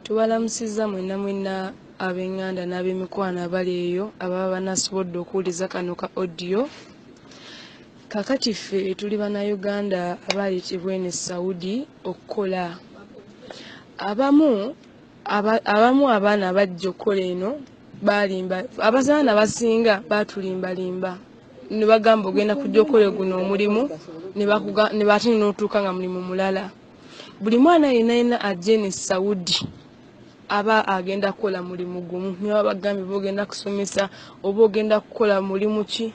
Tubalamusizza mwenna mwenna ab'enganda n'ab'emikwano abali eyo ababa banasobodde okuwuliza kano ka audio. Kakati ffe tuli Bannayuganda abaayitibwa eno e Saudi okukola. Abamu abamu abaana abajja okukola eno baalimba abazaana basinga baatulimbalimba ne bagamba ogenda kujja okole guno omulimu ne bakuga ne baate n'otuuka nga mulimu mulala. buli mwana yenna yenna ajja eno esaudi aba agenda kukola mulimu gumu niba bagambye oba ogenda kusomesa oba ogenda kukola mulimu ki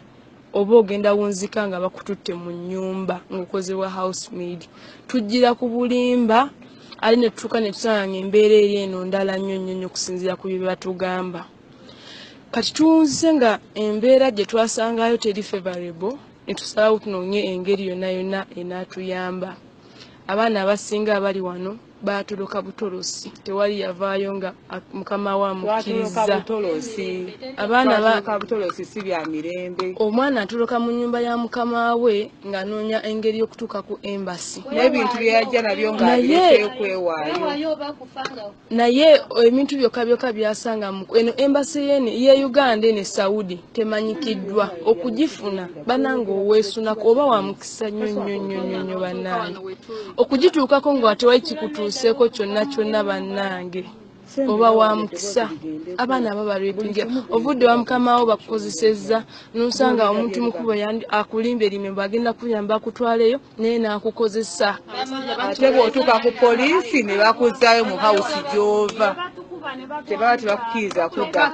oba ogenda wunzika nga bakututte mu nyumba ngaokozewa house maid tujjira ku bulimba ali netutuuka netutanga nga embeera eri eno ndala nnyo nnyo nnyo okusinziira ku byebatugamba kati tuwunzise nga embeera gye twasangayo teri favorable netusalawo tunonye engeri yonna yonna enatuyamba abaana abasinga abali wano baatoloka butolosi tewali yavaayo nga mukama we amukkirizzaabutolosi si bya mirembe omwana atoloka mu nyumba ya mukama we ng'anoonya engeri y'okutuuka ku embasi n'ebintu byeyajja nabyo ng'abirekeyo kwewaayo naye ebintu byokka byokka byasanga mu eno embasi yene ye uganda ene saudi temanyikiddwa okugifuna banange oweesunako oba wa mukisa nnyo nnyo nnyo nnyo nnyo bannange okugituukako nga watewali kikutuuseeko kyonna kyonna bannange oba wa mukisa abaana aba barepinge ovudde wa mukamawo bakukozesezza nosanga omuntu mukubo akulimba erimembo agenda kuyamba akutwaleyo naye nakukozesa ate bwotuuka ku poliisi ne bakuzaayo mu hawusi gyova tebaba tebakukiriza kudda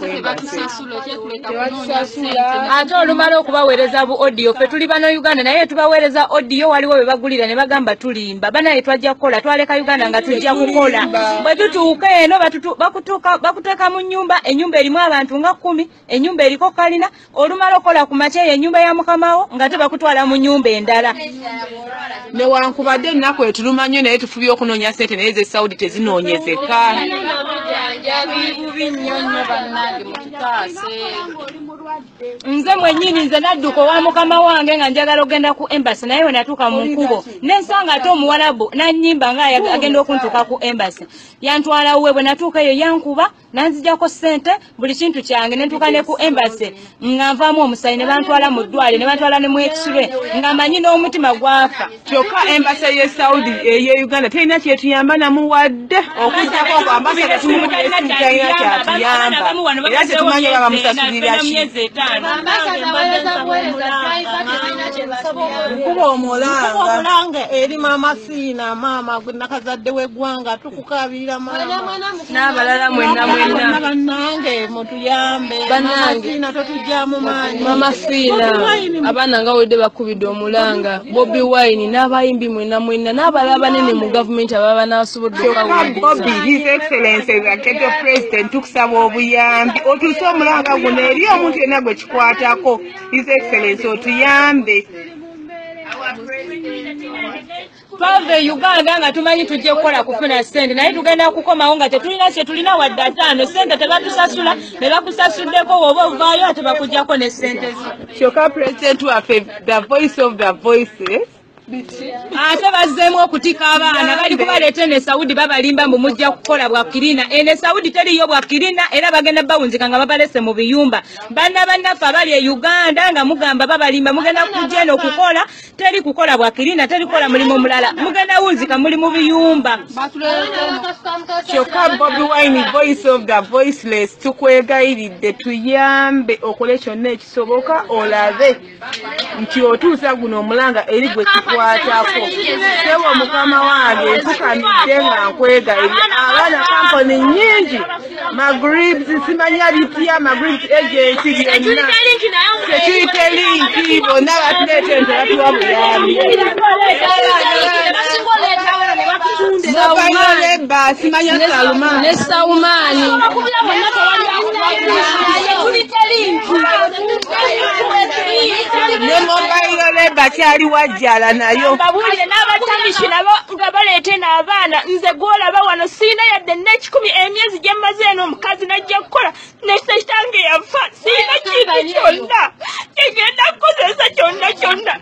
ate olumala okubaweereza bu odiyo ffe tuli bana uganda naye tubaweereza odiyo waliwo bwe bagulira ne bagamba tulimba banaye twajja kukola twaleka uganda nga tujja kukola bwe tutuuka eno bakuteeka mu nnyumba ennyumba erimu abantu nga kkumi enyumba eriko kalina olumala okola ku makya eyo enyumba ya mukamawo nga tebakutwala mu nyumba endala newankubadde ennaku etuluma nnyo naye tufubye okunoonya sente naye ze saudi tezinoonyezeka nze mwenyini nze nadduka owa mukama wange nga njagala okugenda ku embasi naye wenatuuka mu nkubo nensanga ate omuwalabu nanyimba nga agenda okuntuuka ku embasi yantwalawe bwenatuuka eyo yankuba nanzijako sente buli kintu kyange nentuka ne ku embassy nga nvamu omusayi ne bantwala mu ddwale ne bantwala ne mwekisube nga manyi n'omutima gwafa kyokka embassy ye saudi eye eh, uganda terina kyetuyamba namu wadde okujjako kwambasada tumuuakyatuyambamu wano batetumanyi oba bamusasuliraki nkuba omulanga eri mama siina maama gwe nakazadde wegwanga okukaabirira n'abalala mwenna mwenna bannange mutuyambe bannangeina totugyamu maanyi mama fiina abaana nga wedde bakubidde omulanga bobi wine n'abayimbi mwenna mwenna n'abalala banene mu gavumenti ababa banasobodde okabobi his excellence aketo president tukusaba obuyambi otuuse omulanga guno eri omuntu yenna gwe kikwatako his excellence otuyambe twava e uganda nga tumanyi tujja kukola kufuna sente naye tugenda kukomawo nga tetulina kyetulina wadde ataano sente tebatusasula ne bakusasuddeko woba ovaayo ate bakujjako ne sente zo kyokka pulezidenti waffe the voice of the voices ate bazzeemu okutika abaana bali kubaleeta ene saudi babalimba mbu mujja kukola bwakirina ene saudi teriyo bwakirina era bagenda bawunzika nga babalese mu biyumba banna bannaffe abali e uganda nga mugamba babalimba mugenda kujja eno okukola teri kukola bwakirina teri kukola mulimu mulala mugenda wunzika muli mu biyumba kyokka bobi wine voice of the voiceless tukwegayiridde tuyambe okole kyonna ekisoboka olabe nti otuusa guno omulanga eri gwe kikwatako sewo mukama wange nfukamidde nga nkwegayirira abaana kamponi nyingi magribs simanya bitya magribs agent byonna security linki bonna batuleeta ente batuwa buyambi nobanyoleba simanya salumane saumani ne mobile leba kyali wajjala nayo nga baleete n'abaana nze gwolaba wano siina yadde n'ekikumi emyezi gye mmaze eno omukazi najja kukola nekitange yafa siina kintu kyonna egenda kukozesa kyonna kyonna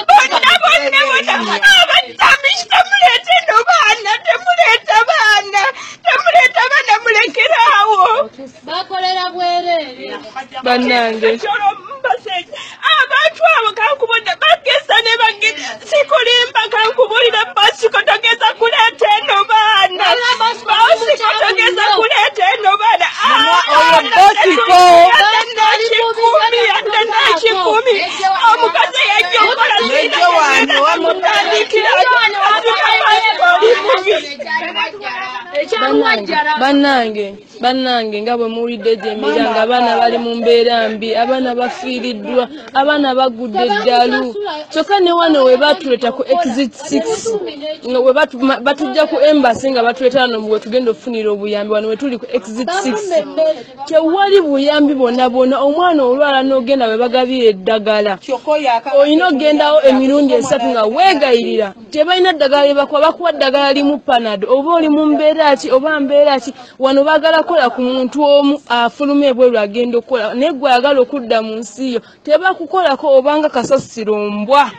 bonna bonna bona abatamisita muleete no baana temuleeta baana temuleeta baana mulekeraawo bakolera bwereere bannange abantu abo kankubudde bageza ne bagenda sikulimba kankubulira basiko togeza kuleeta eno baana basiko togeza kuleeta eno baana kikumi omukazi yajja okola sinamutandikira bannange bannange nga bwe muwulidde gyemira nga abaana bali mu mbeera mbi abaana bafiiriddwa abaana bagudde eddalu kyokka ne wano we batuleeta ku exit six nga batujja ku embasi nga batuleeta wano we tugenda okufunira obuyambi wano we tuli ku exit six tewali buyambi bwonna bwonna omwana olwala n'ogenda we bagabira eddagala olina okugendawo emirundi esatu nga weegayirira tebalina ddagala lyebakuwa bakuwa ddagala limu panado oba oli mu mbeera ki oba mbeera ki wano bagala kukola ku muntu omu afuluma ebweru agenda okukola naye gwe ayagala okudda mu nsi yo tebakukolako obanga kasasiro mbwa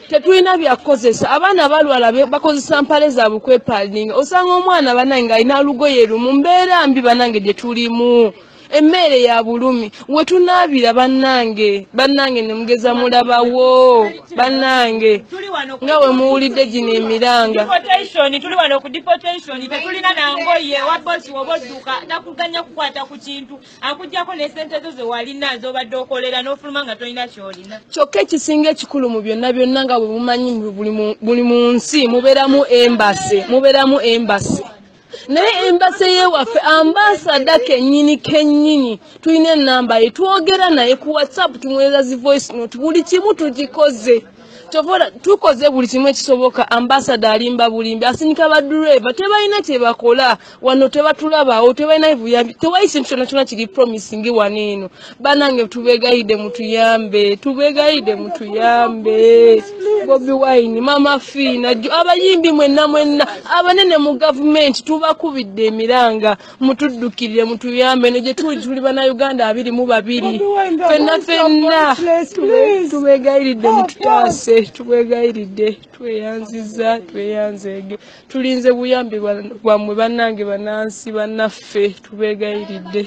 tetulina byakukozesa abaana balwala bakozesa mpale zaabwe kwepalinga osanga omwana banange alina lugoye lumu mbeera mbi banange gye tulimu emmeere ya bulumi wetunaabira bannange bannange ne mugeza mulabawo bannange nga we muwulidde gino emiranga tuli wano ku deportation tetulina nangoye wa bosi woba odduka takuganya kukwata ku kintu akugyako ne sente zo zewalina zobadde okolera n'ofuluma nga tolina kyolina kyokka ekisinga ekikulu mu byonna byonna nga bwe mumanyi buli mu nsi mubeeramu embase mubeeramu embase naye embase yewaffe ambasada kenyini kenyini tulina enamba ye twogera naye ku whatsapp tumwereza zi voice note buli kimu tukikoze tovola tukoze buli kimu ekisoboka ambasada alimba bulimbi asindika badureva tebalina kyebakola wano tebatulabawo tebalina buyambi tewayi kintu kyona kyona kiri promising wano eno banange tubegayide mutuyambe tubegayide mutuyambe bobi wine mama fiina jo abayimbi mwenna mwenna abanene mu gavumenti tubakubidde emiranga mutuddukirire mutuyambe no gyetuli tuli banauganda abiri mu babiri fenna fenna tubegayiridde mututaase tubegayiridde tweyanziza tweyanzeege tulinze buyambi bwammwe banange banansi banaffe tubegayiridde